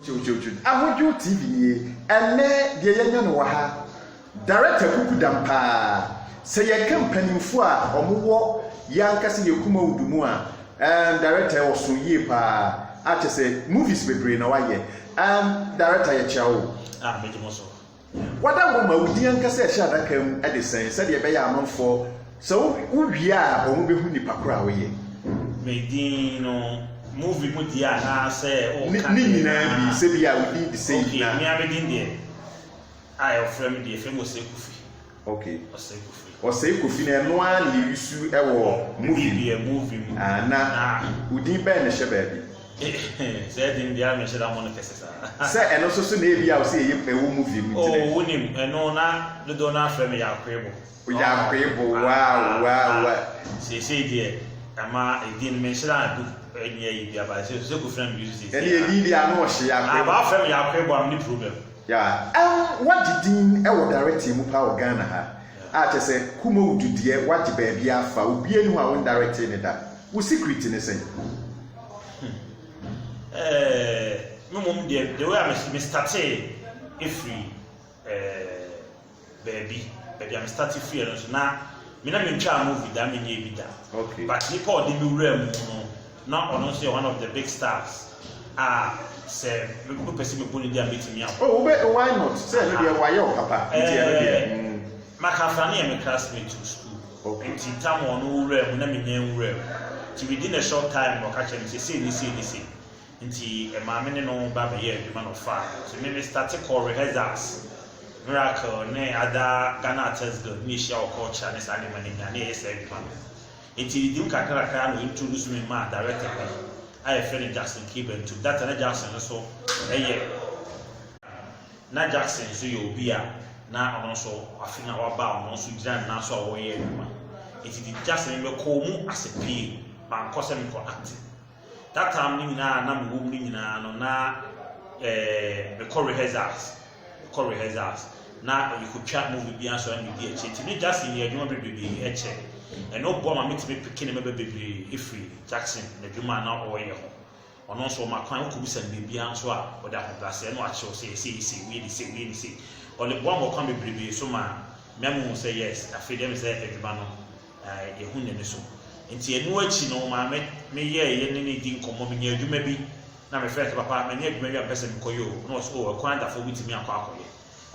Kyewkyewkyew ahodwow TV nie ɛnnɛ deɛ yɛanya no wɔ ha Director kuku dam paa sɛ yɛka mpaninfoɔ a ɔmo wɔ yankasa yɛ Kumawood mu a ehm Director ɔsoo yie paa a kyɛsɛ movies bebree na wayɛ ehm Director yɛkyea wo. Ah mɛdi mo so. Wada hɔ ma wo din ankasa ɛhyɛ adaka mu de sɛn sɛdeɛ ɛbɛyɛ amanfoɔ sɛ wo wo wie a wɔn bɛhu nipa korɔ a wo yɛ. Me din no movie mu deɛ anaa sɛ wo ka deɛ. Ne nyinaa bi sɛ bi a wo din de sɛ yi na. Ok me a me din deɛ a wɔfrɛ me deɛ yɛfrɛ me Osei Kofi. Ok. Ɔsɛe Kofi. Ɔsɛe Kofi no ɛno ara na yɛusu wɔ movie mu. Yɛ movie mu. Ah na wo din bɛn na ɛhyɛ baabi? Saa din deɛ a menhyɛ da mmɔ no kɛse saa. Sɛ ɛno nso so na ebi a wo sɛ ɛyɛ ɛwɔ movie mu nti na. Oh wonim ɛno na dodoɔ no ara frɛ me Yaakoebo. Yaakoebo wow wow wow. Seesei deɛ ɛma edin menhyɛ da do ɛnyɛ yi bia but sɛ Kofi na me use seesei. Ɛne edin deɛ ano ɔhye Yaakoebo. Ah but wafrɛ me Yaakoebo a menni problem. Yeah ɛm wagye din wɔ directing mu paa wɔ Ghana ha a kyerɛ sɛ Kumawu du deɛ wagye baabiaa fa obiaa ni hɔ a wo ndirect ne da wo secret ne sɛn? Ɛɛɛɛɛ me mmom deɛ the way a me startee ɛfiri ɛɛɛɛɛ. baabi baabi a me starte firi no nso na me na mentwaa movie da menyɛ bi da okay. but nipa a ɔde me wura mu no na ɔno nso yɛ one of the big stars a sɛ mepɛ sɛ mebɔ ne di a mɛtumi a oh, wobɛ why not sɛ ɛno deɛ wayɛ wo papa nti ɛno deɛ eh, mm. makafra ne yɛ me classmate to school okay. nti tam ɔno wura mu na menyɛ wura mu nti within a short time ɔka kyerɛ me sɛ sei ne sei ne sei Ntsi maa me ne no ba bɛyɛɛ edwuma na ɔfaa me. Ntsi me me starte kɔr rehearsals, Miracle ne Ada, Ghana Artist Guild ne yehyia wɔ culture ne saa ndzɛmba no nyina na yɛyɛ saa edwuma no. Ntsi edzin kakrakra na ointroduce me maa director bi a yɛfrɛ no Jackson Key-Bentum. That time na Jackson no so yɛ na Jackson so yɛ obi a na ɔno so afe na ɔaba a ɔno so gyina ne nan so a ɔreyɛ edwuma. Ntsi dze Jackson me me kɔɔ mu ase pii, mannkɔ sɛ mekɔ acting. That time no nyinaa a na mewɔ mu no nyinaa no na eh, mekɔ rehearsals, mekɔ rehearsals na yɛkɔtwa movie bi anso na medi akyire nti ne Jackson yɛ adwuma bebrebe ɛkyɛ ɛno boa ma metumi peke ne mɛbɛ bebree ɛfiri Jackson n'adwuma a na ɔreyɛ ho ɔno nso ɔma kwan wokɔbisa no biribiara nso a ɔde ahobrɛaseɛ na wakyerɛw sɛ ɛsɛ yɛsɛ wei ne sɛ wei ne sɛ ɔde boa ma ɔkwan bebrebe so ma mɛmo sɛ yes afei deɛ me sɛ adwuma no Na yɛahu n'ani so. Enti ɛno akyi no, maa me me yɛɛ yɛ ne no di nkɔmmɔ. Menyaa adwuma bi, na mefrɛɛ no sɛ, Papa, manya adwuma bi a mepɛ sɛ mekɔyɛ o. Na ɔse, O, ɛkwan adafo wobɛtumi akɔ akɔyɛ.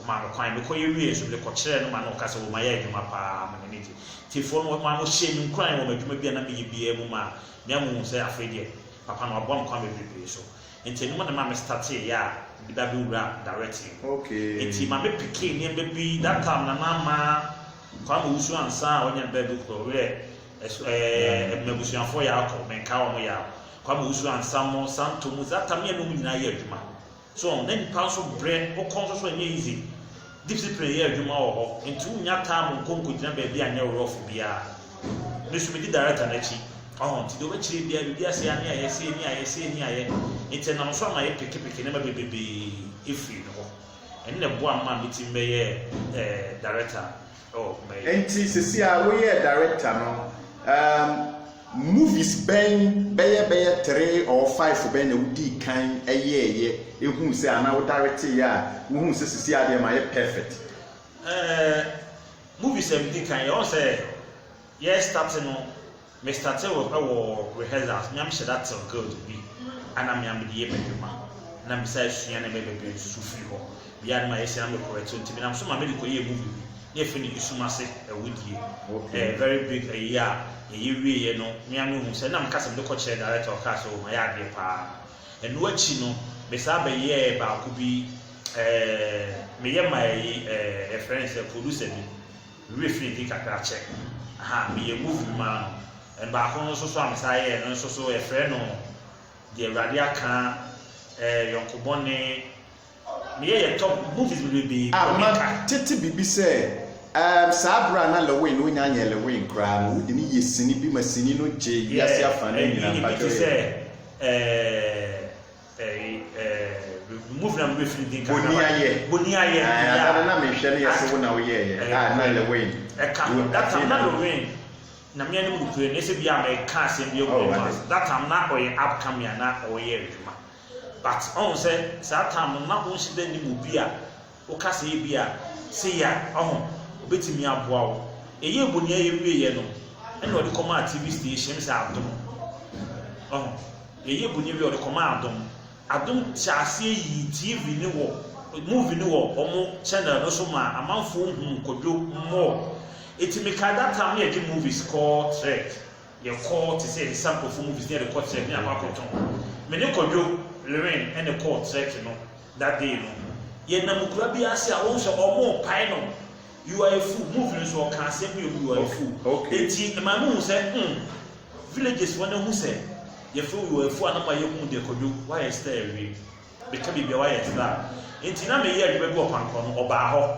Ɔmaa me kwan. Mekɔyɛ wiee nso, mede kɔkyerɛɛ no ma na ɔka sɛ, O, mayɛ adwuma pa ara, ma n'ani gye. Tiefoɔ no, maa wɔhyɛɛ me nkuran wɔ m'adwuma bi a na meyɛ biara mu maa me ama ɔhuu sɛ afei deɛ, Papa no waboa me kwan bebrebe so. Enti ɛno na ɛmaa me startee yɛ a mede ba bɛwuraa directing mu. Enti ma me pickee nneɛma bi, that time na na mmaa Nkwama wusu ansa a ɔnya bɛ du koro werɛ ɛso ɛɛ mmabusuafoɔ yɛ akɔ menka wɔn yɛ akɔ kwama wusu ansa mo santo mu zata mmienu wɔn nyinaa yɛ adwuma so wɔn na nipa nso brɛ wokɔ nso so ɛnyɛ easy discipline yɛ adwuma wɔ hɔ nti wonya taa mo nko nko gyina baabi anyɛ worɔfo biara mesu medi director n'akyi ɔho nti deɛ wɔbɛkyerɛ biara biribi asɛ ani ayɛ sɛ ani ayɛ sɛ ani ayɛ nti nam so ama yɛ pekepeke nneɛma bebebee efiri no hɔ Ɛno na ɛboaa me maa mitumi bɛyɛɛ director wɔ kumaa yi. Ɛnti sɛsi ara woyɛɛ director no, um, movies bɛn, bɛyɛ bɛyɛ three or five bɛn na wodii kan yɛɛyɛ, ehuu sɛ anaa wo directeeɛ a wohuu sɛ sɛsi ara deɛ mayɛ perfect? Eh, movies a medii kan yɛ, ɔhu sɛ yɛ starte no, Me starte wo wɔ rehearsals me a me hyɛ da tell girls bi a na me a me de yɛ m'adwuma na me sa sua ne bɛ bebree nsusu firi hɔ bia no ma yɛ sua na me correct nti me nam so ma me de kɔ yɛɛ movie bi na yɛ frɛ no esum ase awudie ɛɛ very big ayie a yɛ yɛ wie yɛ no me a me hu sɛ na me ka sɛ me de kɔ kyerɛ director ɔkaa sɛ o ma yɛ adeɛ paa ɛno akyi no me saa bɛ yɛɛ baako bi ɛɛ me yɛ ma ɛyi ɛɛ yɛ frɛ no sɛ producer bi Me werɛ firi bi kakra kyɛ. Aha, meyɛɛ movie bi maa no. Baako no nso so a mesan yɛɛ no nso so yɛfrɛ no Deɛ Awurade Aka, ɛɛ Yɔnko Bɔne. Meyɛ yɛ top movies bebrebee a ma meka. Tete biribi sɛ, ɛɛm, saa bere a na Lewin no nnya nyɛɛ Lewin koraa no, wode no yɛ sini bi ma sini no gyee wiase Yeah, afanan nyinaa. ɛyi, ebi Mpakyɛw te yɛ. sɛ, ɛɛ. boniayɛ boniayɛ ɛɛ na na mehwɛ no yɛ sɛ wo na woyɛ yɛ a na yɛ wɛn ɛka no that time na no wɛn na me ne mu kure ne sɛ bi a me ka asɛm bi agu ma that time na ɔyɛ upcoming na ɔyɛ adwuma but ɔn sɛ saa time na ɔnhyɛ dɛ ne mu bi a Wo kasa yi bia se ya ɔho obetumi aboa wo. Yɛyɛɛ bu nea yɛwieɛ no na wɔde kɔmaa TV station me sɛ Adom. Ɔho. Yɛyɛɛ bu no wieɛ wɔde kɔmaa Adom. Adom hyɛɛ aseɛ yii TV no wɔ movie no wɔ wɔn channel no so maa amanfoɔ huu Kwadwo more. Nti mekae that time na yɛgye movies kɔɔ Trek. Yɛkɔ te sɛ nsa nkurɔfo movies na yɛde kɔ trek na yɛakɔ akɔtɔn. Me ne Kwadwo, Lorraine, ɛna ɛkɔɔ trek no that day no. Yɛnam kura bi ase a wohu sɛ wɔrepae no You are a fool, movie no nso ɔka asɛm bi wɔ mu You are a fool. Enti ɛma mehu sɛ hmm, villages wɔn ahu sɛ yɛfrɛ wo You are a fool a na ma yɛhu deɛ Kwadwo woayɛ star awie. Bɛka biribi a woayɛ star. Enti na meyɛ adwuma bi wɔ Pankɔ no, ɔbaa hɔ.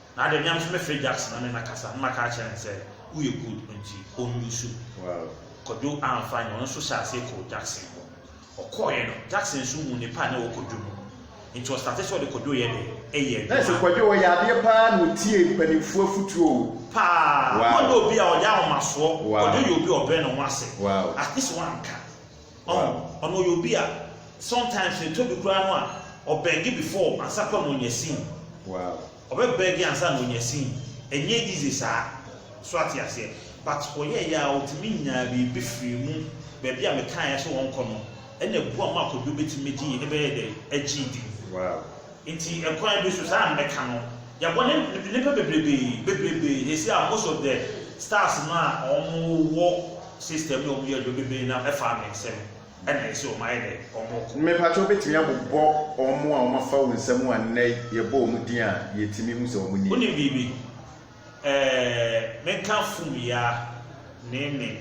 Na adɛ mia nso mɛfrɛ Jackson na ne na kasa na maka akyerɛ no sɛ woyɛ good nti ɔnnusu. Kwadwo amfa anyɛ, ɔno nso hyɛɛ aseɛ kɔɔ Jackson hɔ. Ɔkɔɔeɛ no, Jackson nso huu ne pa a na ɛwɔ Kwadwo mu no nti ɔstate sɛ ɔde Kwadwo yɛ dɛ? Ɛyɛ adwuma. Nɛɛse Kwadwo ɔyɛ adeɛ pa ara na ɔtie mpaninfoɔ afutuo o. Paa! Na ɔnyɛ obi a ɔde ahomasoɔ, Kwadwo yɛ obi a ɔbrɛ ne ho ase, at least wanka Ɔho ɔno ɔyɛ obi a sometimes no ɛtɔbi koraa no a ɔbɛge before ansa koraa na ɔnya seen. Wow. Ɔbɛ bɛge ansa na ɔnya seen. Ɛnyɛ easy saa. So ate aseɛ? But ɔyɛɛyɛ a ɔtumi nyaa biribi firii mu. Baabi a mekaeɛ sɛ ɔnkɔ no ɛna ɛboa ma Kwadwo bɛtumi gyee ɛbɛyɛɛ dɛn? Agyee din. Wow. Nti ɛkwan bi so saa a mɛka no yɛabɔ ne nnipa bebrebee bebrebee sɛsi a most of the stars no a ɔmo wɔ system no a ɔmo yɛ adwuma bebrebee no ɛfa me nsam ɛna ɛsɛ ɔmo ayɛ dɛ ɔmo kɔ. Me pakyɛ wobɛtumi abobɔ ɔmo a ɔmo afa wo nsam a nnɛ yɛbɔ ɔmo din a yɛtumi hu sɛ ɔmo nie. Wonim biribi ɛɛ menka fum yaa ne ne.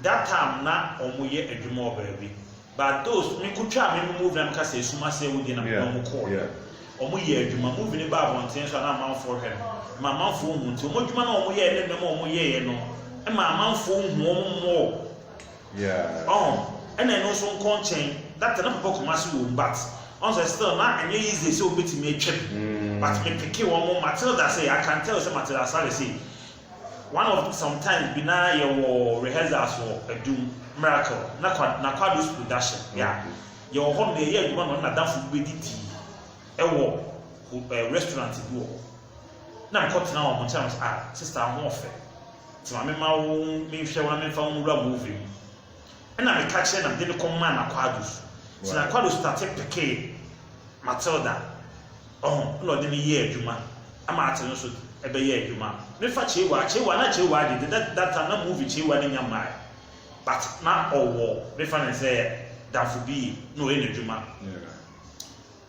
That time na ɔmo yɛ adwuma wɔ baabi but those me ko twaa me movie na me ka sɛ esum ase awu deɛ na me ne ɔmo kɔɔ yɛ ɔmo yɛ adwuma movie no baa abɔnten nso a na amanfoɔ hwɛ no ma amanfoɔ hu nti ɔmo adwuma na ɔmo yɛɛ ne nneɛma ɔmo yɛɛ no ma amanfoɔ hu ɔmo mmɔɔ ɔho ɛna ɛno nso nkɔ nkyɛn that na papa kuma ase wɔ mu but ɔn sɛ still na ɛnyɛ easy sɛ ɔbɛtumi atwam mm. but me peke wɔn mo Matilda sɛ I can tell sɛ Matilda Asare sɛ One of some times bi na yɛwɔ rehearsals wɔ Adum Miracle na kwa na Kwado's production yeah yɛwɔ hɔ no yɛyɛ adwuma na ɔne n'adamfo bi bɛdidi ɛwɔ ho- eh, restaurant bi wɔ hɔ na mekɔ tena wɔn nkyɛn na mese ah sista ho ɔfɛ nti ma mema wo menhwɛ wo na memfa wo nwura movie mu Ɛna me ka kyerɛ na me de no kɔ maa na Quadro so nti na Quadro starte pekee Matilda ɔho ɛna ɔde me yɛɛ adwuma ɛma ate no nso ɛbɛ yɛɛ adwuma me fa Chewa Chewa na Chewa de de that time na movie Chewa ne nya mmaɛ but na ɔwɔ me fa no sɛ damfo bi na ɔyɛ na adwuma.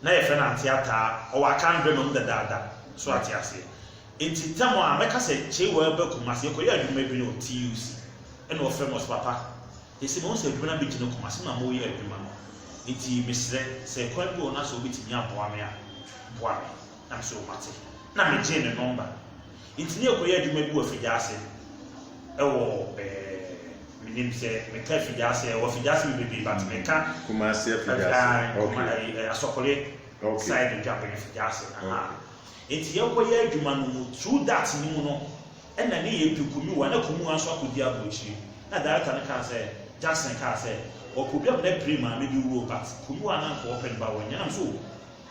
na yɛfrɛ no ante ataa, ɔwɔ akaa mbrɛ ma mu dadaada, so ate aseɛ? Ntsi tam a mɛka sɛ Chewa ba Kumasi ekɔyɛ adwuma bi no TUC na ɔfrɛ me ɔse papa yɛse mehu sɛ adwuma no abɛgyina Kumasi na moreyɛ adwuma no ntsi meserɛ sɛ kwan bi wɔ hɔ na sɛ wobɛtumi aboa me a boa me na mese oh mate na megyee ne nɔmba Enti ne kɔyɛ adwuma bi wɔ Fidiase ɛwɔ ɛɛ menim sɛ meka Fidiase ɛwɔ Fidiase me bebree but meka Kumasi Fidiase okay Asɔkole okay. side Ntwabene Fidiase aha okay. enti yɛ kɔyɛ adwuma no mu through that ne mu no ɛna ne yɛ du Kumuwa na Kumuwa nso akɔdi aburokyiri na director no kaa sɛ Jackson kaa sɛ ɔpɛ obi a mena pire maame bi wuo but Kumuwa na nka ɔpɛ no ba wɔnyɛ nam so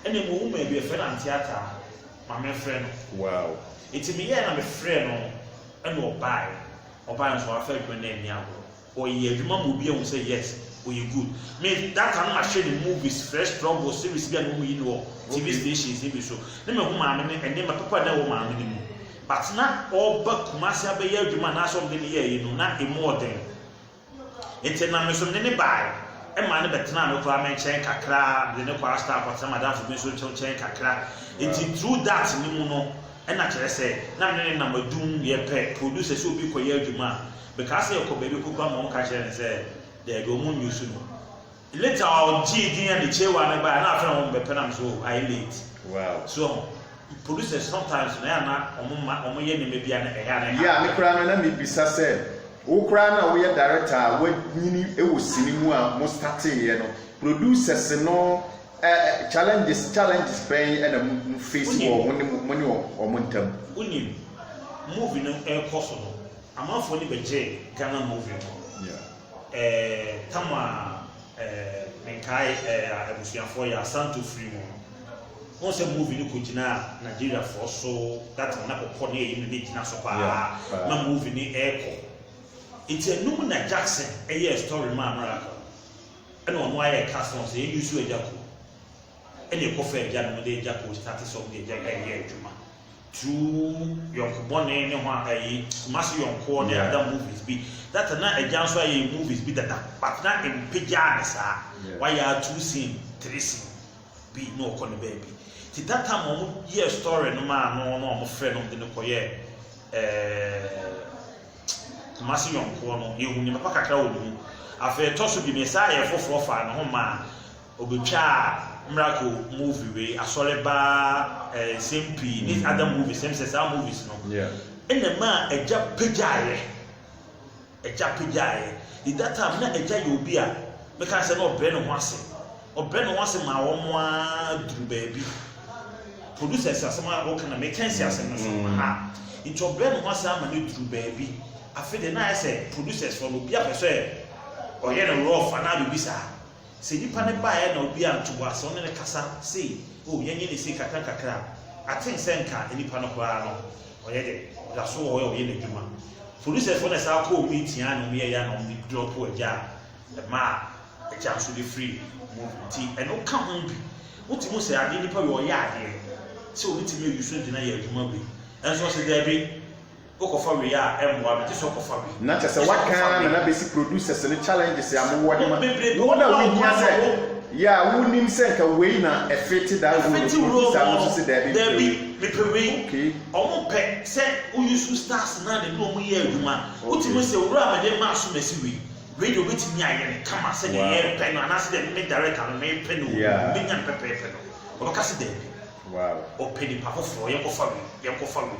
Ɛna emu owu ma ebi ɛfrɛ no ante ataa ma me frɛ no wow eti me yɛɛ na me frɛ no ɛna ɔbae ɔbae nso wafa adwuma no anni agorɔ ɔyɛ adwuma ma obi ahu sɛ yes ɔyɛ good me that time na mahwɛ ne movies frɛ struggle series bi a na ɔmu yi no wɔ TV stations ne bi so ne mahu maame no nneɛma papa a na ɛwɔ maame no mu but na ɔba Kumasi abɛyɛ adwuma anaasɛ ɔde ne yɛɛ yi no na emu ɔden Ntsi nna me so menye no bae. Mma no bɛtsenaa me kora me nkyɛn kakra, medze no kɔr Astar kɔtsena m'adamfo bi so nkyɛn kakra. Ntsi through that no mu no, nna kyerɛ sɛ na me ne no nam adum, yɛpɛ, producer sɛ obi kɔyɛ adwuma a, mekaa sɛ yɛkɔ baabi kɔkura ma wɔka kyerɛɛ no sɛ daabi, wɔn nyi so no. Later a ɔgyee din a ne kyerewa no bae a na afei na wɔbɛpɛ na mesɛ oh ayɛ late. Wow. So wɔn producers sometimes no ɛyɛ a na wɔn ma wɔn yɛ nneɛma bi a na ɛyɛ a na ɛha. Yeah, me koraa no na me bisa sɛ wo koraa no a woyɛ director a wanyini wɔ sini mu a mo startee yɛ no producers no ɛ ɛ challenges challenges bɛn na mo mo face wɔ mo ne mo mo ne wɔn ntam? Wonim, movie no ɛrekɔ so no amanfoɔ ani bɛgyee Ghana movie ho. Yeah. Ɛɛ tam a ɛɛ menkae ɛɛ a abusuafoɔ yɛ asanto firi mu no wɔn sɛ movie no kɔ gyina Nigeria foɔ so that na pɔpɔ ne ɛyi no ne gyina so paa yeah, na movie no ɛɛkɔ nti ɛnum na Jackson ɛyɛ story maa miracle ɛna ɔno ayɛ cast wɔn sɛ yɛn yusu ɛgya ko ɛna ɛkɔ fɛ ɛgya no mo de ɛgya ko start sɛ ɔmo de ɛgya ɛyɛ adwuma. True yɔnko bɔne ne ho a ɛyi Kumasi yɔnkoɔ ne ada movies bi that na agya nso ayɛ movies bi dada but na mpagyaa ne saa wayɛ a two scene three scene bi na ɔkɔ ne baabi ti that time wɔn yɛ story no maa no na wɔn frɛ no de no kɔ yɛ ɛɛ Kumasi yɔnkoɔ no yɛhu ne papa kakra wɔ ne mu afei ɛtɔ so bi ne saa yɛ foforɔ faa ne ho maa Obetwaa miracle movie wei asɔre ba eh, nsɛm pii ne other movies ɛm sɛ saa movies no ɛna ɛma a agya pagyaeɛ agya pagyaeɛ in that time na agya yɛ obi a meka sɛ na ɔbrɛ ne ho ase ɔbrɛ ne ho ase maa wɔn mo a duru baabi producer si asɛm a wɔka na meka si asɛm no so mm. ha nti ɔbrɛ ne ho ase ama no duru baabi afei de na ayɛ sɛ producers wɔn obi apɛ sɛ ɔyɛ no rough anaa biribi saa. Sɛ nnipa no baeɛ na obiara anto bo ase, ɔne no kasa sei, oh yɛnyɛ no sei kakra kakra a, I think sɛ nka nnipa no koraa no ɔyɛ dɛ, ɔda so wɔ hɔ a ɔyɛ n'adwuma. Producers foɔ na ɛsaa kɔɔ mu yi tiaa na wɔyɛeɛ a na wɔn de drop agya a, ɛmaa agya nso de firi mu nti ɛno ka ho bi. Wotumi hu sɛ adeɛ nipa wei ɔyɛ adeɛ sɛ ɔbɛtumi ayi so nti na yɛ adwuma wei. Nanso ɔse daabi. Wokɔfa wei a ɛmmoa no gye sɛ wokɔfa wei. Na kyerɛ sɛ waka ara na na bɛsi producers no challenges a mowɔ de ma wo na wohia sɛ yeah wonim sɛ nka wei na ɛfete daa role no producer no nso se daabi mepɛ wei. Mepɛ wei. Okay. Wɔn pɛ sɛ wo use wo stars no a na ɛne wɔn yɛ adwuma. Wotumi se owura mede maa so masi wei. Wei deɛ obetumi ayɛ no kama sɛdeɛ yɛrepɛ no anaase deɛ me director no mepɛ no wɔ mu no menya no pɛpɛɛpɛ no. Wɔbɛka se daabi. Wɔpɛ nipa foforɔ yɛnkɔfa wei yɛnkɔfa wei.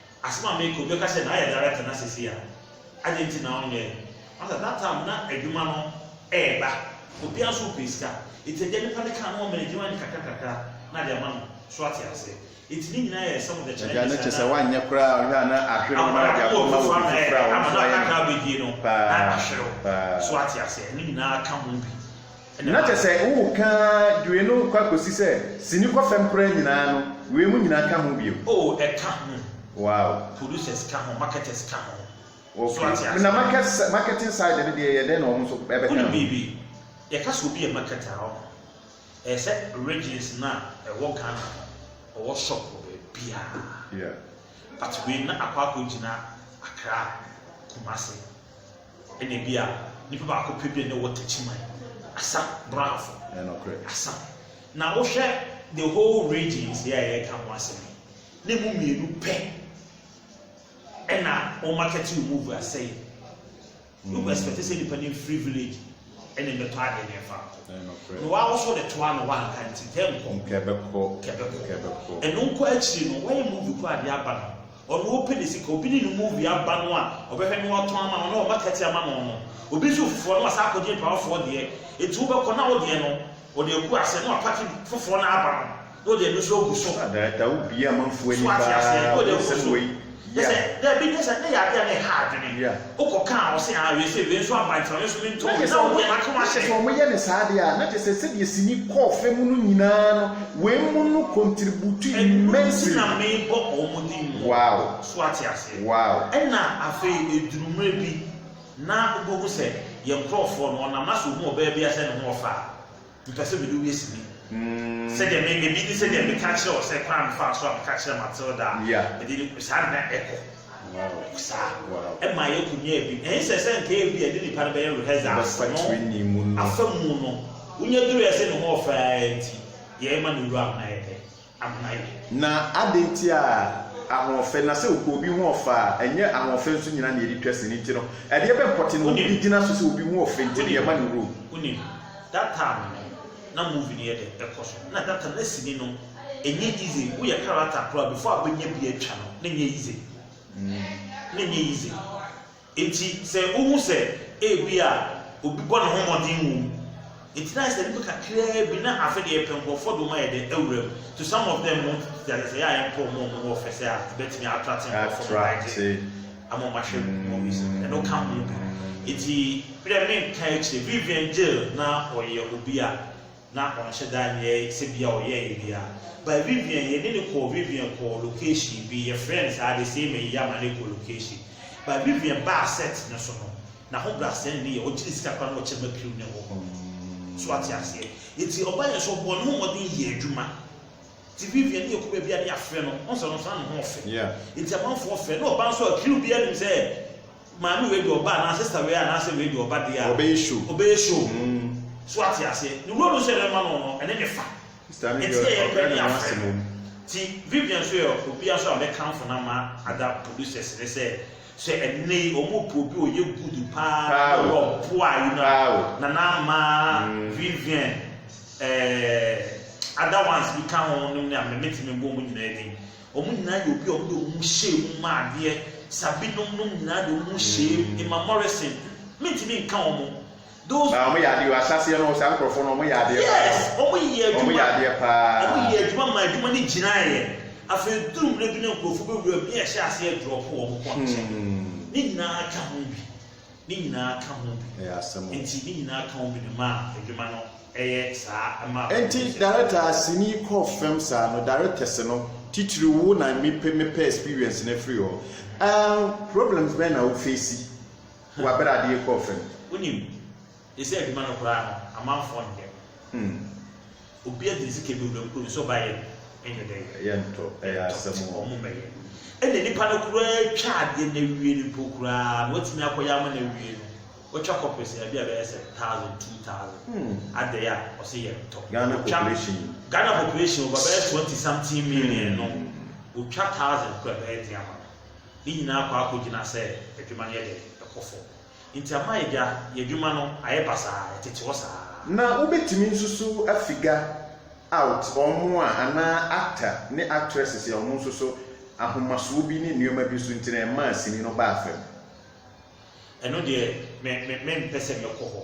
Asɛm a meka, obi bɛka sɛ na ayɛ director na sesei a adɛn nti na ɔnyɛe? Master, that time na adwuma no ɛɛba, obiara nso repɛ sika, nti agya nipa no kaa na wɔma no adwuma no nkakra nkakra na de ama no, so ate ase? Nti ne nyinaa yɛ some of the challenges a na. Agya no kyesɛ wanyɛ koraa ɔhwɛ a na ahwerew na wɔde akɔma obi foforo a ɔno nso ayɛ no paa paa. Na kyɛ sɛ woreka due no kɔ akosi sɛ sini kɔ fam koraa nyinaa no, wei mo nyinaa ka ho bio. Oh, ɛka ho. Wow. Producers ka ho, marketers ka ho. So ate aseɛ? Okay, na market sɛ, marketing side no deɛ yɛ dɛn na wɔn nso ɛbɛka ho? Wonim biribi, yɛka sɛ obi yɛ marketer a, ɔho, ɛyɛ sɛ regions no a ɛwɔ Ghana no, ɔwɔ shop wɔ baabiara. Yeah. But wei na akɔ akɔgyina Accra, Kumasi. Ɛna ebia nipa baako pɛ bi a ne wɔ Techiman, Asa, Brafo, Asa. Na wohwɛ the whole regions yɛ a yɛka ho asɛm yi, na emu mmienu pɛ ɛna wɔn market wɔn mu vu asɛe. Wobɛ mm. expect sɛ nipa ne free village ɛna mmɛtɔ ade ne ɛfa nkɔ. Na wɔawoso de toa na wɔanka nti tɛ nkɔ. Nkɛbɛkɔ. Nkɛbɛkɔ. Ɛno nkɔ akyiri no wɔyɛ movie kɔ ade aba no. Ɔno ɔpɛ ne sika, obi ne no mu wie aba no a, ɔbɛhwɛ na watɔn ama no na wama kɛteɛ ama no no. Obi nso foforɔ no wasan akɔgye mpawafoɔ deɛ, enti wobɛkɔ na wo deɛ no ɔde agu aseɛ na wapake foforɔ no aba no na ɔde ɛno nso agu so. Ada da wo bie amanfoɔ ani paa wo nsɛm wei ya. Kyɛ sɛ daabi nyɛ saa na ɛyɛ adeɛ a na ɛha adwene. Wokɔ ka a, ɔse aa wei sei, wei nso aba nti ma me nso me ntɔ wei, na wo deɛ maka mahyɛ. Sɛ wɔyɛ no saa deɛ a, na kyerɛ sɛ sɛdeɛ sini kɔɔ fɛ mu no nyinaa no, wei mu no contribute immensely. Ɛno nti na mebɔ wɔn din mu. Wow. So ate aseɛ? Wow. Ɛna afei ɛduru mmerɛ bi na wobɛhu sɛ yɛn nkorɔfoɔ no, ɔnam na sɛ ɔhu ɔbaa bi a sɛ ne ho ɔfa a, Mepɛ sɛ mede wo yɛ sini. Sɛdeɛ me, ebi ne sɛdeɛ meka kyerɛ wo sɛ kwan a mefaa so a meka kyerɛ Matilda a, Yeah. mede ne, saa na na ɛkɔ. Wow. Ɛkɔ saa. Wow. Ɛma yɛkɔ nyaa bi. Ɛnyɛ sɛ sɛ nka ebi a ɛde nipa no bɛyɛ rehearsals no, Bɛfa training mu no. afa mu no, wonya duruiɛ sɛ ne ho ɔfɛ ara nti, yɛma no wura ho na yɛpɛ. Na adɛn nti a ahoɔfɛ, na sɛ ɔpɛ obi ho ɔfɛ a, ɛnyɛ ahoɔfɛ nso nyinaa na yɛde twa sini nti no, ɛdeɛ bɛn pɔte na obi de gyina so sɛ obi ho ɔfɛ nti na yɛma no rule? Wonim, that time no na movie no yɛ dɛ ɛkɔ so, ɛna that time na sini no ɛnyɛ easy, woyɛ character koraa before a wobɛnya bi atwa no na ɛnyɛ easy, na ɛnyɛ easy. Enti sɛ wuhu sɛ ebia obi bɔ ne ho mmɔden wom nti na ayɛ sɛ nnipa kakraa bi na afe deɛ yɛpɛ nkurɔfoɔ de wɔn ayɛ dɛ awura mu to some of them mu nti ayɛ sɛ yɛ a yɛmpɛ wɔn a wɔn ho ɔfɛ sɛ a ɛbɛtumi atrate nkurɔfoɔ ma wɔagye ama wɔn ahwɛ movies no ɛno ka ho bi nti bi dɛ menka akyire Vivian Jill na ɔyɛ obi a Na ɔnhyɛ da nyɛ sɛ bi a ɔyɛɛ yɛ bi a. But Vivian, yɛ de no kɔɔ Vivian kɔɔ location bi, yɛ frɛɛ no saa de, sei ma yi ama no kɔ location. But Vivian baa set no so no, n'ahobrasɛɛ no ne yɛ, ɔgye ne sika koraa na ɔkyɛ ma crew no hɔ. So wate aseɛ? Nti ɔbaa yɛ so ɔbɔɔ ne ho mmɔden yɛɛ adwuma. Nti Vivian ne yɛ kɔ baabi a ne yɛ afrɛ no, wohu sɛ ɔno nso na ne ho ɔfɛ. Yeah. Nti amanfoɔ frɛ, na ɔbaa nso a crew biara nim sɛ, Maame wei de ɔba anaa sista wei anaasɛ wei de ɔba deɛ a, Ɔbɛyɛ show. ɔbɛyɛ show. Mm. So wate aseɛ? Ne role nso a yɛbɛma no no, ɛne ne fa. Sista no Enti deɛ, yɛ yɛn pɛ ɔbrɛ ne ne yɛ afrɛ n'asɛm no. mu. Nti Vivian nso yɛ obi a nso a mɛkamfo no ama other producers ne sɛ, sɛ ɛnnɛ yi wɔpɛ obi a ɔyɛ good paa Paa na o. ɔwɔ boa yi no a, Paa o. Nana mma Mm. Vivian, ɛɛ other ones bi ka ho nom ne a, me mɛtumi mbɔ wɔn nyinaa din. Wɔn nyinaa yɛ obi a wɔde wɔn ho hyɛɛ mu maa adeɛ. Saa binom nom nyinaa de wɔn ho hyɛɛ mu. Emma Morrison, Mentumi nka wɔn. Those. Ba, wɔyɛ adeɛ o. Ahyɛaseɛ no, saa nkorɔfoɔ no, wɔyɛ adeɛ paa o. Yes, wɔyɛ adwuma. Wɔyɛ adeɛ paa. Wɔyɛɛ adwuma maa adwuma no gyinaeɛ. Afei ɛduru mmerɛ bi na nkorɔfoɔ bɛwura mu ne yɛhyɛ aseɛ drɔpo wɔn kɔ nkyɛ. Ne nyinaa ka ho bi. ne nyinaa ka ho bi. Ɛyɛ asɛm o. Enti ne nyinaa ka ho bi no maa adwuma no yɛ saa ɛmaa kwan Enti sɛ. director a sini kɔ fam saa no directors no titiriw wo na mepɛ mepɛ experience no afiri hɔ ɛɛm problems bɛn na wo face wɔ bere a ade rekɔ fam? Wonim, te sɛ adwuma no koraa no amanfoɔ nhwɛ. Hmm. obi adi ne sika bi obɛkuru ne so bayɛ ɛnyɛ dɛ ɛyɛ ntɔ ɛyɛ asɛm hɔ ɔmo bɛyɛ ɛna nipa no koraa twa adeɛ na awie no mpo koraa na watumi akɔyɛ ama na awie no wɔtwa kɔpɛ sɛ ɛbi a bɛyɛ sɛ thousand two thousand hmm. adɛɛ a ɔsɛ yɛ ntɔ Ghana population Ghana population ɔba bɛyɛ twenty something million hmm. no wɔtwa thousand kɔ ɛbɛyɛ den ama ne nyinaa kɔ akɔgyina sɛ adwuma no yɛ dɛ ɛkɔ fam Nti ama yɛagya y'adwuma no ayɛ basaa, ɛtete hɔ saa. Na wobɛtumi nsusu a figure out wɔn a anaa actor ne actresses a wɔn nso so ahomasoɔ bi ne nneɛma bi nso nti na ɛmaa sini no baa fam. Ɛno deɛ me me mempɛ sɛ mɛkɔ hɔ.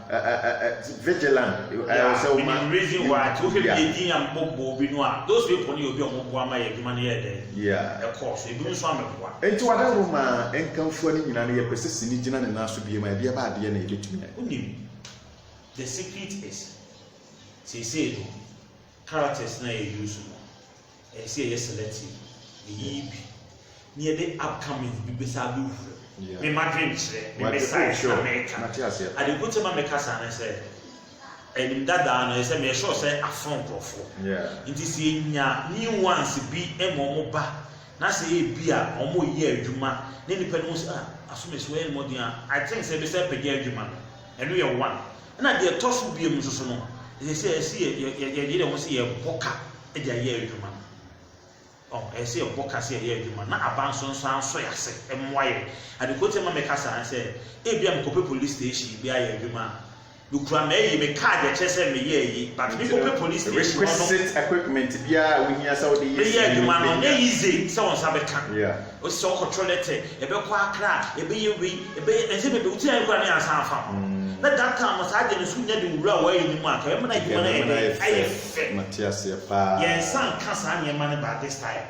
Uh, uh, uh, uh, vigilant. Uh, yeah, so ma, the reason why to be a din am bobo bi no a those people ni obi omo boa ma ye adwuma no ye den. Yeah. E course e bi nso am boa. Enti wada ho ma enkamfua ni nyina no ye pese sini gyina ne naso bi ma e bia ba ade na e betumi. Unim. The secret is say say no characters na e use no. ɛsɛ sɛ yɛyɛ selective yɛyiyi bi ne yɛde upcomings bi bɛsa abɛwura Yeah. me madwenkyerɛ me Wate- mɛsae oh, sure. na mɛka Mate aseɛ. ade nko kyɛ ma mɛka saa ne sɛ anim dadaa no ɛyɛ sɛ meyɛ sure sɛ aso nkurɔfoɔ Yeah. nti sɛ yɛnya new ones bi ma ɔmo ba na sɛ ɛyɛ bi a ɔmo yɛ adwuma na nipa no ho sɛ ah aso mɛsi wɔyɛ ne mmɔden a I think sɛ ɛbɛsɛ apagya adwuma no Ɛno yɛ one. Ɛna deɛ ɛtɔ so biom nso so no, ɛsɛ sɛ ɛsɛ yɛ yɛ yɛ yɛyere yɛn ho sɛ yɛbɔ ka de ayɛ adwuma. Ɔho, ɛsɛ sɛ yɛbɔ ka sɛ yɛyɛ adwuma na aba nso nso ansɔ yɛ ase mmoa yɛ. Adekorɔ ti ma meka saa ne sɛ, ebia mekɔpɛ police station bi ayɛ adwuma a, mekura m'ayi, me card a ɛkyerɛ sɛ meyɛ ayi, but Nti no, mekɔpɛ police station hɔ no, requisite equipment biara a wohia sɛ wode yɛ meyɛ sini no, adwuma no, ɛnyɛ bɛhia. easy sɛ wo nsa bɛka. Yeah. Ɔsisɛ ɔkɔtɔ lɛtɛ, ɛbɛkɔ akra, ɛbɛyɛ wei, ɛbɛyɛ ɛnsɛ bɛbɛ wo tiri koraa ne ansa afa ho. Na that time no saa adeɛ no so nya de wura wɔ ayɛ no mu a nka ɛbɛma no adwuma no ayɛ dɛn? Ayɛ fɛ. Yɛn nsa nka saa nneɛma no by this time.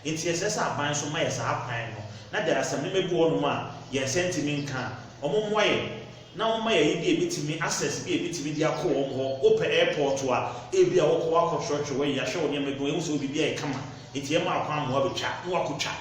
Nti ɛsɛ sɛ aban nso ma yɛ saa kwan no. Na there are some nneɛma bi wɔ hɔ nom a yɛn nsa ntumi nka a, wɔn mmoa yɛn. na wɔma yɛayi bi a ebetumi access bi a ebetumi de akɔ wɔn hɔ. Wopɛ airport a, ebia wokɔ akɔkyerɛkyerɛ w'ayi, yɛahwɛ wo nneɛma bi ma yɛahu sɛ wo biribiara yɛ kama, enti yɛma akwanhoa betwa na wɔakotwa.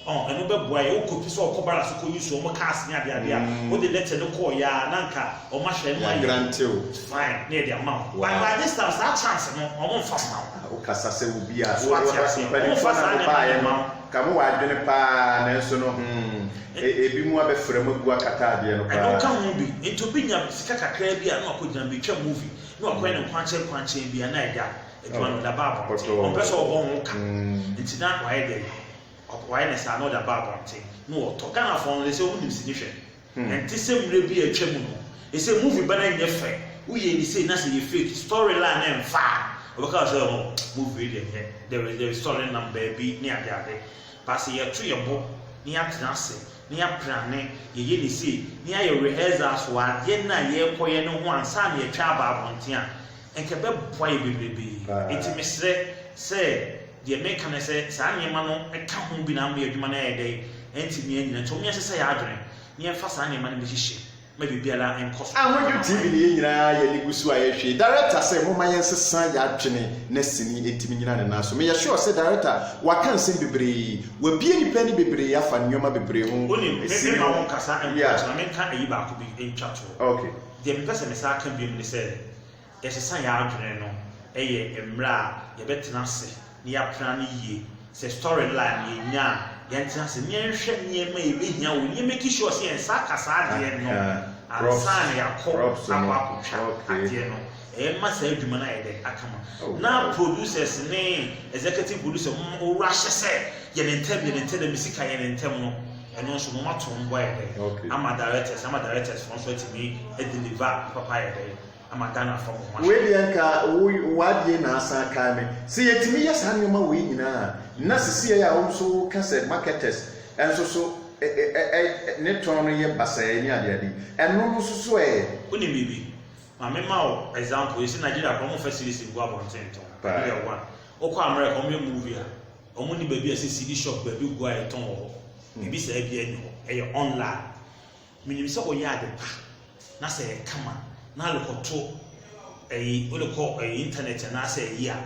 Ɔn, ɛno bɛboa yɛn. Wokɔ pi sɛ wɔkɔ barracks so kɔyi so wɔn cars ne adeade a, wode letter no kɔeɛ a, na anka wɔahyɛ yɛn ma yɛayɛ. Yɛagrante wo. Fine, na yɛde ama wo. But by this time, saa chance no, wɔmfa mma wo. Wokasa sɛ obi a, so wate aseɛ? Wɔmfa saa nneɛma no mma wo. Ka ho w'adwene paa nanso no hmm, e, ebinom abɛfra mu agu akata adeɛ no Ɛno nka ho paa. bi. Enti obi nya sika kakraa bi a na wakɔgyina betwa movie, na wakɔyɛ ne nkwankyɛn nkwankyɛn bi a na ɛda adwuma no, ɔda ba abɔnten. Pɔtɔɔ. Ɔmpɛ sɛ ɔbɔ ho ka. Mm. Enti na wayɛ dɛn? Ɔk, wayɛ no saa na ɔda ba abɔnten na ɔtɔ. Ghanafoɔ no, they say, wonim sini hwɛ. Ɛnte sɛ mmrɛ bi a atwa mu no. Ɛsɛ movie ba no nyɛ fɛ woyɛ ni sei na sɛ yɛ fake story line no ɛnfa a wɔbɛka wo sɛ oh movie wei deɛ ɛnyɛ there is there is story nam baabi ne ade ade but sɛ yɛto yɛ bo na yɛatena ase na yɛaprane yɛyɛ ni sei na yɛayɛ rehearsals wɔ adeɛ no a yɛrekɔ yɛ no ho ansa na yɛtwa aba abɔnten a ɛnka ɛbɛboa yɛ bebrebee nti mesrɛ sɛ Deɛ mereka ne sɛ, saa nneɛma no ka ho bi na ama yɛn adwuma no ayɛ dɛn? Ɛntumi annyina. Nti momma yɛnsesa yɛn adwene, na yɛmfa saa nneɛma no bi nhyehyɛ ma biribiara nkɔ so. Ahodwo TV no yɛn nyinaa yɛn ani gu so a yɛhwɛ. Director sɛ momma yɛnsesa yɛn adwene na sini ɛtumi nnyina ne nan so. Meyɛ sure sɛ Director waka nsɛm bebree. Wabue nnipa ani bebree afa nneɛma bebree ho. Wonim, me, Sini meremma ho. wonkasa mpo, Yeah. nti ma menka ayi baako bi ntwa toɔ. Okay. Deɛ mepɛ sɛ mesan ka biom ne sɛ, Yɛsesa yɛn adwene no yɛ mmerɛ a yɛbɛtena ase na yɛapena no yie. Sɛ story line no yɛnya a, yɛntena ase na yɛnhwɛ nneɛma a yɛbɛhia wɔ mu na yɛmmeki sure sɛ yɛn nsa aka saa adeɛ no ansa na yɛakɔ akɔ akɔtwa adeɛ no. Ɛma saa adwuma no ayɛ dɛ aka ma. Na producers ne executive producer mo mo wura hyɛ sɛ yɛn ntɛm yɛn ntɛm dɛ me sika yɛn ntɛm no ɛno nso mo mato ho mpo ayɛ dɛ ama directors ama directors foɔ nso atumi deliver papa ayɛ dɛ. ama Ghana fam ho asɛm. Wei deɛ anka wo w'adeɛ na asan kae me. Sɛ yɛtumi yɛ saa nneɛma wei nyinaa a, na seseɛ a wo nso wo ka sɛ marketers nso so ne tɔn no yɛ basaa ne ade ade yi, ɛno no nso so ɛ? Wonim biribi? Ma me ma wo example, yɛsi Nigeria koraa wɔn nfa cedis ngu abɔnten ntɔn, ɛno yɛ one. Wo kɔ America wɔn yɛ movie a, wɔn nni baabi a yɛsi cedi shop baabi gu a yɛtɔn wɔ hɔ, biribi saa biara nni hɔ, ɛyɛ online. Menim sɛ woyɛ ade pa na sɛ ɛyɛ kama na wode kɔto ɛyi wode kɔ ɛyi intanɛt anaasɛ ɛyi a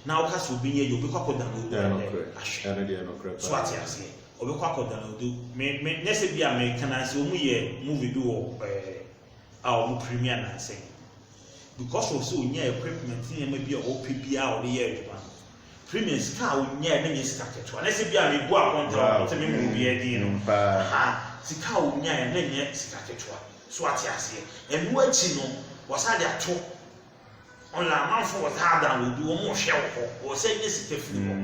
na woka sɛ obi nyɛ yi obi kɔ akɔ download ɛnɛ ahwɛ so ate aseɛ obi kɔ akɔ download me me nyɛ sɛ bi a me ka na sɛ wɔn yɛ movie bi wɔ ɛɛ a wɔn premier nansɛn because of sɛ onya equipment nneɛma bi a ɔpɛ bi a ɔde yɛ adwuma firi me sika a wonyae menyɛ sika ketewa na sɛ bi a mebu akonta wɔ sɛ mema obiara din no ha sika a wonyae na nyɛ sika ketewa so ate aseɛ ɛno akyi no wɔsa de ato ɔla amanfo wɔ saa dan wɔ bi wɔn ɔhwɛ wɔ hɔ wɔ sɛ nyɛ sika firi hɔ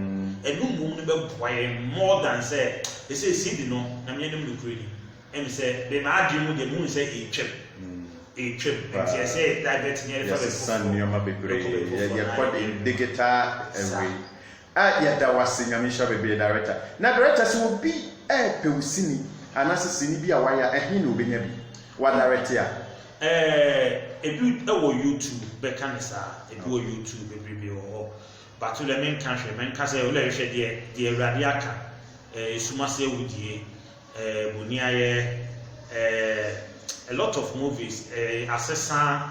ɛno mmom no bɛboa yɛ more than sɛ ɛsɛ ɛsi di no na meɛ nom no kure ni Efisɛ me m'adwene mu deɛ mehu sɛ ɛretwam. Ɛretwam. Nti ɛsɛ yɛ divert ne yɛde fa baabi foforɔ. Yɛsesa nneɛma bebree. Yɛkɔ de digital away. Ah yɛda wo ase Nyame nhyira wo bebree Director. Na Director sɛ obi ɛɛpɛ wo sini anaasɛ sini bi a wayɛ a ɛhe na obenya bi? Wa direct a. Eh ebi wɔ YouTube bɛka no saa. Ebi wɔ YouTube bebrebe wɔ hɔ. But wo deɛ menka hwɛ. Menka sɛ wo deɛ hwɛ deɛ deɛ Awurade aka. Eh esum ase awudie. Eh boniayɛ eh a lot of movies eh asesa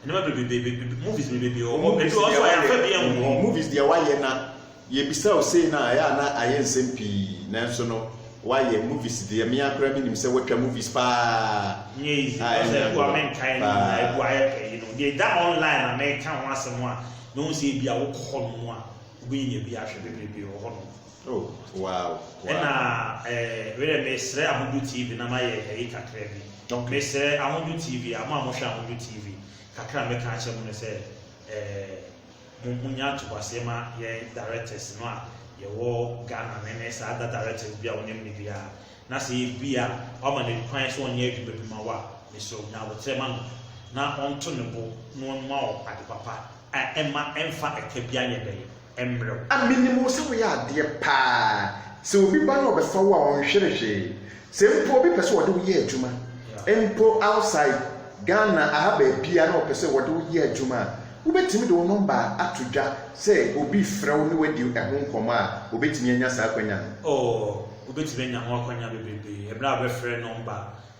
nneɛma bebrebe movies bebrebe wɔ hɔ ebi wɔ hɔ so a yɛamfa bi angu. Movies deɛ wayɛ na yɛbisa wo sei no a ɛyɛ a na ayɛ nsɛm pii nanso no wayɛ movies deɛ me ara koraa menim sɛ watwa movies paa Nyɛ easy a because ɛnyɛ ebi wɔ hɔ a agorɔ menkae no nyinaa ebi wɔ paa. hɔ a ayɛ pɛ yi no deɛ ɛda online a mɛka ho asɛm a mehu sɛ ebi a wokɔ hɔnom a wobɛnya bi ahwɛ bebrebe wɔ hɔnom. Oh wow wow. Ɛna eh, werɛ mesrɛ Ahodo TV na mayɛ ɛyi kakra bi. Okay. Mesrɛ Ahodo TV a, mo a mohwɛ Ahodo TV, kakra a mɛka akyɛ mo no sɛ, eh, mo mo nya atobaseɛ ma yɛn directors no a yɛwɔ Ghana no ne saa da directors bi a wonim no bi a, na sɛ ebi a wama no kwan sɛ ɔnyɛ adwuma bi ma wo a, mesrɛ wo nya abotrɛ ma no na ɔnto ne bo na ɔnma wo ade papa a ɛma ɛmfa ɛka biara nyɛ dɛn mmerɛw. Minim wo sɛ woyɛ adeɛ paa, sɛ obi ba na ɔbɛfa wo a ɔnhwere hwee, sɛ mpo obi pɛ sɛ ɔde wo yɛ adwuma mpo outside Ghana aha baabiara na ɔpɛ sɛ ɔde wo yɛ adwuma a, wobɛtumi de wo nɔmba ato dwa sɛ obi frɛ wo ne wadi ɛho nkɔmmɔ a, obɛtumi anya saa akwanya no? Oo, wobɛtumi anya ho akwanya bebrebe berɛ a wobɛfrɛ nɔmba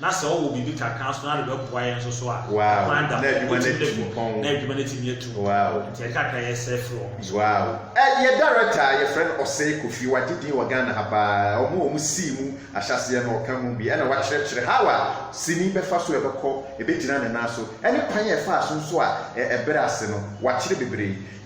na sɛ ɔwɔ biribi kakra nso na rebɛboa yɛn nso so a, kwan da hɔ, wotumi de kɔ, na adwuma no atumi atu mpɔn. Nti ɛka kakra yɛsrɛ firi wɔn so. Wow. Ɛ, yɛ director a yɛfrɛ no Osei Kofi, wagye din wɔ Ghana ha paa. Wɔn a wɔn sii mu ahyɛaseɛ no, ɔka mu bi. Ɛna wakyerɛkyerɛ how a sini bɛfa so a ɛbɛkɔ, ɛbɛgyina ne nan so, ɛne kwan a ɛfaa so nso a ɛ, ɛbrɛ ase no. Wakyerɛ bebree.